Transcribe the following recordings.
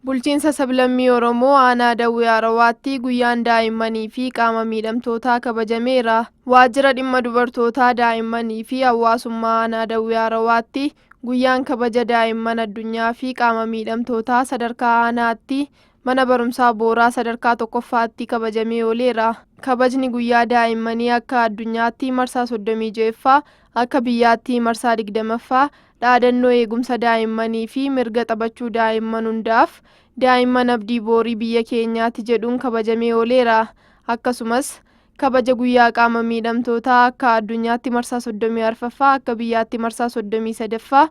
Bulchiinsa Sablammii Oromoo Aanaa Dawwee Arawaatti guyyaan daa'immanii fi qaama miidhamtootaa kabajameera. Waajjira Dhimma Dubartootaa, Daa'immanii fi Hawaasummaa Aanaa Dawwee Arawaatti guyyaan kabaja daa'imman addunyaa fi qaama miidhamtootaa sadarkaa aanaatti mana barumsaa Booraa sadarkaa tokkoffaatti kabajamee ooleera. Kabajni guyyaa daa'immanii akka addunyaatti marsaa 36ffaa, akka biyyaatti marsaa 20ffaa, dhaadannoo eegumsa daa'immanii fi mirga taphachuu daa'imman hundaaf, daa'imman abdii boorii biyya keenyaati jedhuun kabajamee ooleera. Akkasumas, kabaja guyyaa qaama miidhamtootaa akka addunyaatti marsaa 34ffaa, akka biyyaatti marsaa 33ffaa,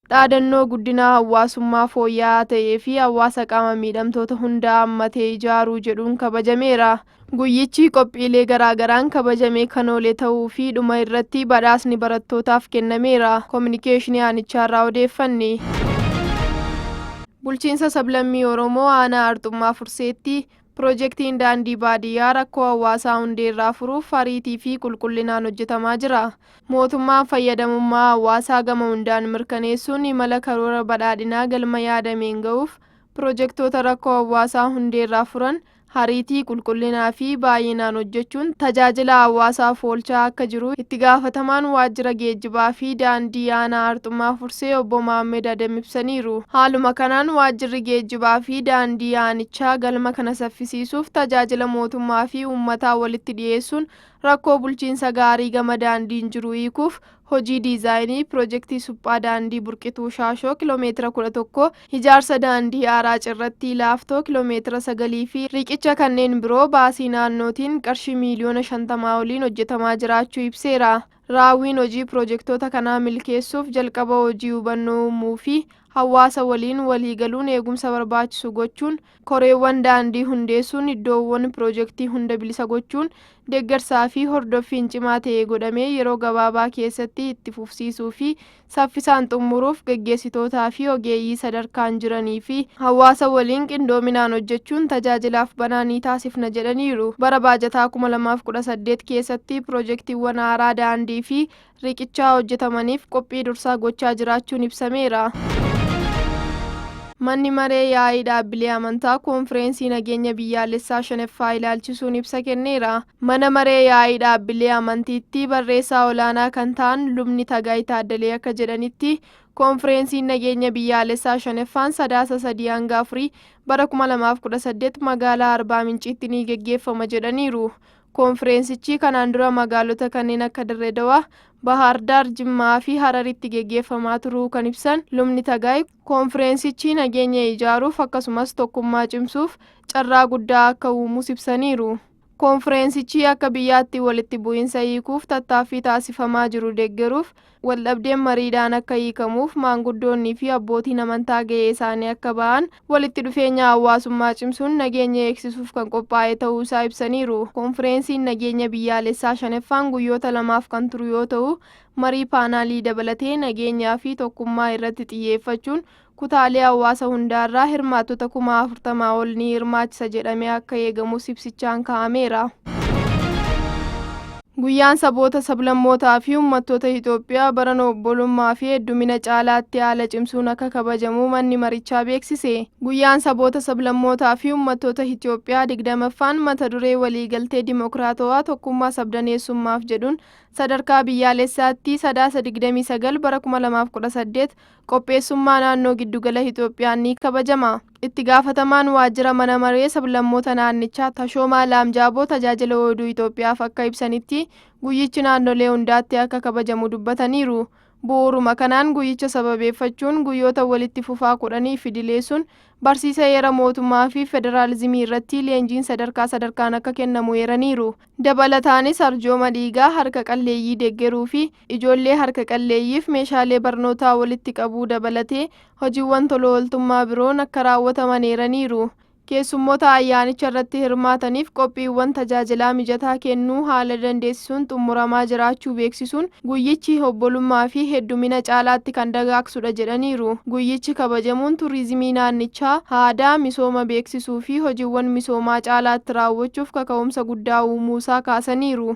dhaadannoo guddinaa hawwaasummaa fooyya'aa ta'ee fi hawwaasa qaama miidhamtoota hundaa hammatee ijaaruu jedhuun kabajameera. Guyyichi qophiilee garaa garaan kabajamee kan oole ta'uu fi dhuma irratti badhaasni barattootaaf kennameera Kominikeeshinii Aanichaarraa odeeffanne. Bulchiinsa Sablammii Oromoo Aanaa Arxummaa Furseetti Pirojektiin Daandii Baadiyyaa rakkoo hawaasaa hundeerraa furuuf ariitii fi qulqullinaan hojjetamaa jira. Mootummaan fayyadamummaa hawaasaa gama hundaan mirkaneessuun imala karoora badhaadhinaa galma yaadameen ga'uuf pirojektoota rakkoo hawaasaa hundeerraa furan hariitii, qulqullinaa fi baay'inaan hojjechuun tajaajila hawaasaaf oolchaa akka jiru Itti Gaafatamaan Waajjira Geejjibaa fi Daandii Aanaa Arxummaa Fursee Obbo Maammed Adem ibsaniiru. Haaluma kanaan Waajjirri Geejjibaa fi Daandii Aanichaa galma kana saffisiisuuf tajaajila mootummaa fi uummataa walitti dhiyeessuun rakkoo bulchiinsa gaarii gama daandiin jiru hiikuuf Hojii diizaayinii pirojektii suphaa daandii Burqituu Shaashoo kilomeetira 11, ijaarsa daandii haaraa Cirrattii Laaftoo kilomeetira 9 fi riiqicha kanneen biroo baasii naannootiin qarshii miiliyoona 50 oliin hojjetamaa jiraachuu ibseera. Raawwiin hojii pirojektoota kanaa milkeessuuf jalqaba hojii hubannoo uumuu fi hawaasa waliin waliigaluun eegumsa barbaachisu gochuun Koreewwan daandii hundeessuun iddoowwan piroojektii hunda bilisa gochuun deeggarsaa fi hordoffiin cimaa ta'e godhamee yeroo gabaabaa keessatti itti fufsiisuu fi saffisaan xummuruuf gaggeessitootaa fi ogeeyyii sadarkaan jiranii fi hawaasa waliin qindoominaan hojjechuun tajaajilaaf banaa ni taasifna jedhaniiru. Bara baajataa 2018 keessatti piroojektiiwwan haaraa daandii fi riqichaa hojjetamaniif qophii dursaa gochaa jiraachuun ibsameera. Manni Maree Yaa'ii Dhaabbilee Amantaa Koonfireensii Nageenya Biyyaalessaa 5ffaa ilaalchisuun ibsa kenneera. Mana Maree Yaa'ii Dhaabbilee Amantiitti Barreessaa Olaanaa kan ta'an Lubni Tagaay Taaddalee akka jedhanitti, Koonfireensiin Nageenya Biyyaalessaa 5ffaan Sadaasa 3-4 bara 2018 Magaalaa Arbaa Minciitti ni geggeeffama jedhaniiru. Koonfireensichii kanaan dura magaalota kanneen akka Dirree Dawaa, Bahaar Daar, Jimmaa fi Hararitti geggeeffamaa turuu kan ibsan lubni Tagaay, koonfireensichii nageenya ijaaruuf akkasumas tokkummaa cimsuuf carraa guddaa akka uumus ibsaniiru. Koonfireensichii akka biyyaatti walitti bu'iinsa hiikuuf tattaaffii taasifamaa jiru deggeruuf Waldhabdeen mariidhaan akka hiikamuuf maanguddoonnii fi abbootiin amantaa gahee isaanii akka bahan, walitti dhufeenya hawaasummaa cimsuun nageenya eegsisuuf kan qophaa'e ta'uu isaa ibsaniiru. Konfireensiin nageenya biyyaalessaa 5ffaan guyyoota lamaaf kan turu yoo ta'u, marii paanaalii dabalatee nageenyaa fi tokkummaa irratti xiyyeeffachuun kutaalee hawaasa hundaarraa hirmaattota kuma 40 ol ni hirmaachisa jedhamee akka eegamus ibsichaan kaa'ameera. Guyyaan saboota sablammootaa fi uummattoota Itoophiyaa barana obbolummaa fi heddumina caalaatti haala cimsuun akka kabajamu manni marichaa beeksise. Guyyaan saboota sablammootaa fi uummattoota Itoophiyaa 20ffaan mata duree waliigaltee dimokiraatawaa tokkummaa sabdaneessummaaf jedhuun sadarkaa biyyaalessaatti sadaasa 29 bara 2018 qopheessummaa naannoo Giddugala Itoophiyaan ni kabajama. Itti gaafatamaan waajjira mana maree sablammoota naannichaa Tashoomaa Laamjaaboo Tajaajila Oduu Itoophiyaaf akka ibsanitti, guyyichi naannolee hundaatti akka kabajamu dubbataniiru. Bu'uuruma kanaan guyyicha sababeeffachuun guyyoota walitti fufaa kudhaniif idileessuun barsiisa heera mootummaa fi federaalizimii irratti leenjiin sadarkaa sadarkaan akka kennamu eeraniiru. Dabalataanis arjooma dhiigaa harka qalleeyyii deggeruu fi ijoollee harka qalleeyyiif meeshaalee barnootaa walitti qabuu dabalatee hojiiwwan toloooltummaa biroon akka raawwataman eeraniiru. Keessummoota ayyaanicha irratti hirmaataniif qophiiwwan tajaajilaa mijataa kennuu haala dandeessisuun xummuramaa jiraachuu beeksisuun, guyyichi obbolummaa fi heddumina caalaatti kan dagaagsudha jedhaniiru. Guyyichi kabajamuun turizimii naannichaa, aadaa, misooma beeksisuu fi hojiwwan misoomaa caalaatti raawwachuuf kaka'umsa guddaa uumuusaa kaasaniiru.